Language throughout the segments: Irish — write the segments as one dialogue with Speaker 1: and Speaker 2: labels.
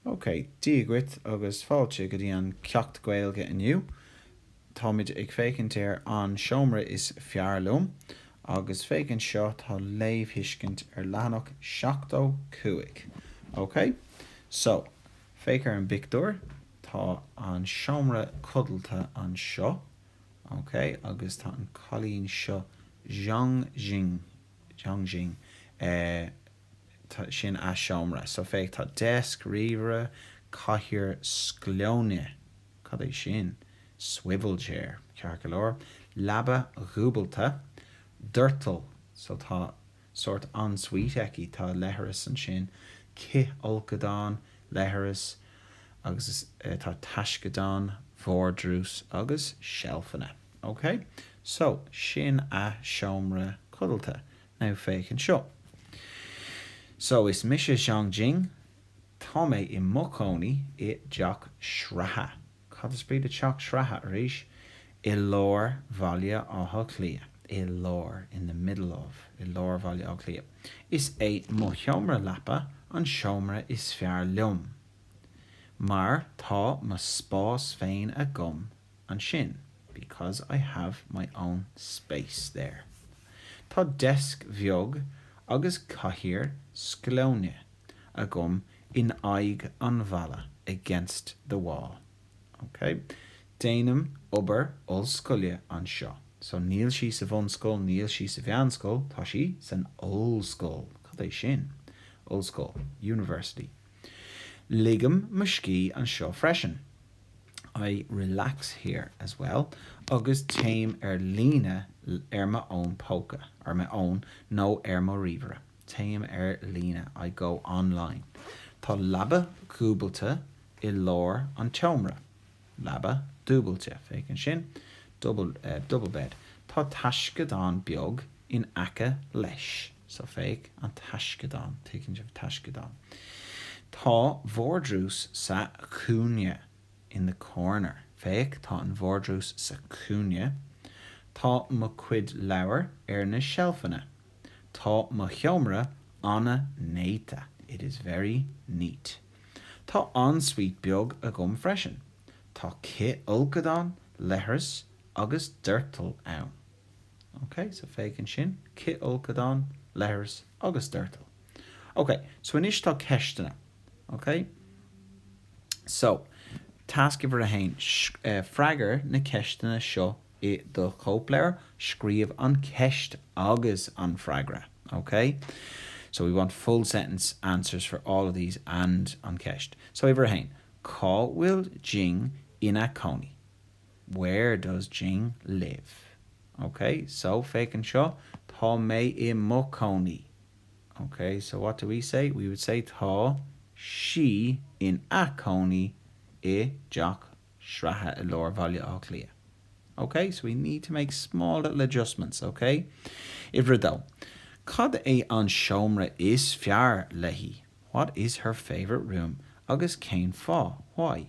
Speaker 1: OK, Dia dhuit agus fáilte go dtí an ceacht Gaeilge inniu. Táimid ag féachaint ar An Seomra is Fearr Liom agus féachaint seo tá léamhthuiscint ar leathanach 75. OK? So, féach ar an bpictiúr, tá an seomra codlata anseo, OK, agus tá an cailín seo, Zhang Jing, Zhang Jing, eh, sin a' seomra so féach tá desk, ríomhaire, cathaoir sclóine, cad é sin? swivel chair, ceart go leor, leaba dhúbailte, doirteal so tá sórt ensuite aici, tá leithreas ansin, cithfholcadán, leithreas agus tá taisceadán, vardrús agus seilfeanna, ok so sin a seomra codlata, Now féach anseo. So, is mise Zhang Jing. Tá mé i mo chónaí i dteach sraithe, cad is brí le teach sraithe arís? i lár Bhaile Átha Cliath. I lár, in the middle of. I lár Bhaile Átha Cliath. Is é mo sheomra leapa an seomra is fearr liom mar tá mo spás féin agam ansin, because I have my own space there. Tá deasc bheag agus cathaoir sclóine agam in aghaidh an bhalla, against the wall. Ok? Déanaim obair ollscoile anseo. So, níl sí sa bhunscoil, níl sí sa mheánscoil, tá sí san ollscoil. Cad é sin? Ollscoil, university. Ligim mo scíth anseo freisin. I relax here as well agus téim ar líne ar mo fhón póca, ar m'fhón, nó ar mo ríomhaire. Téim ar líne, I go online. Tá leaba dhúbailte i lár an tseomra. Leaba dhúbailte, féach ansin, double, eh, double bed. Tá taisceadán beag in aice leis. So, féach an taisceadán, tuigeann sibh, taisceadán. Tá vardrús sa chúinne, in the corner. Féach, tá an vardrús sa chúinne. Tá mo chuid leabhar ar na seilfeanna. Tá mo sheomra an-néata, it is very neat. Tá en-suite beag agam freisin. Tá cithfholcadán, leithreas agus doirteal ann. OK, so féachann sin, cithfholcadán, leithreas agus doirteal. OK, so anois tá ceisteanna. OK? So, tasc uimhir a haon, freagair na ceisteanna seo i do chóipleabhar, scríobh an cheist agus an freagra. OK? So, we want full sentence answers for all of these and an cheist. So, uimhir a haon, cá bhfuil Jing ina cónaí? Where does Jing live? Ok, so, féach anseo, tá mé i mo chónaí. Ok, so what do we say? We would say tá sí ina cónaí i dteach sraithe i lár Bhaile Átha Cliath. Ok, so we need to make small little adjustments, ok? Uimhir a dó, cad é an seomra is fearr léi? What is her favourite room? Agus cén fáth? Why?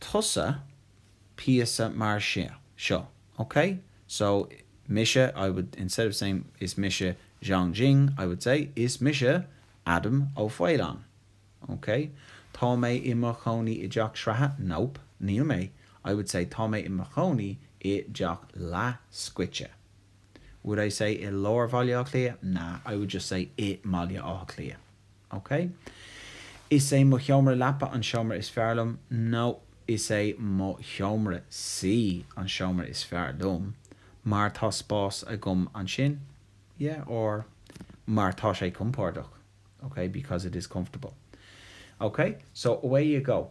Speaker 1: tusa píosa mar seo seo, ok? So, mise, I would, instead of saying Is mise Zhang Jing, I would say Is mise Adam Ó Faoláin, ok? Tá mé i mo chónaí i dteach sraithe? Nope, níl mé, I would say Tá mé i mo chónaí i dteach leathscoite. Would I say i lár Bhaile Átha Cliath? Nah, I would just say i mBaile Átha Cliath. OK. Is é mo sheomra leapa an seomra is fearr liom. No. Is é mo sheomra suí an seomra is fearr liom mar tá spás agam ansin. Yeah, or mar tá sé compordach. OK, because it is comfortable. OK, so away you go.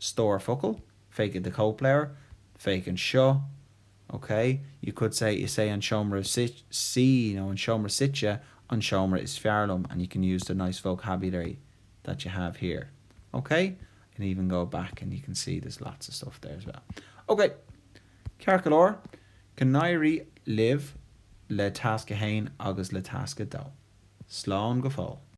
Speaker 1: stór focal, féach i do chóipleabhar, féach anseo, OK? You could say Is é an seomra suí nó an seomra suite an seomra is fearr liom and you can use the nice vocabulary that you have here, OK? You can even go back and you can see there's lots of stuff there as well. OK, ceart go leor, go n-éirí libh le Tasc 1 agus le Tasc 2. Slán go fóill.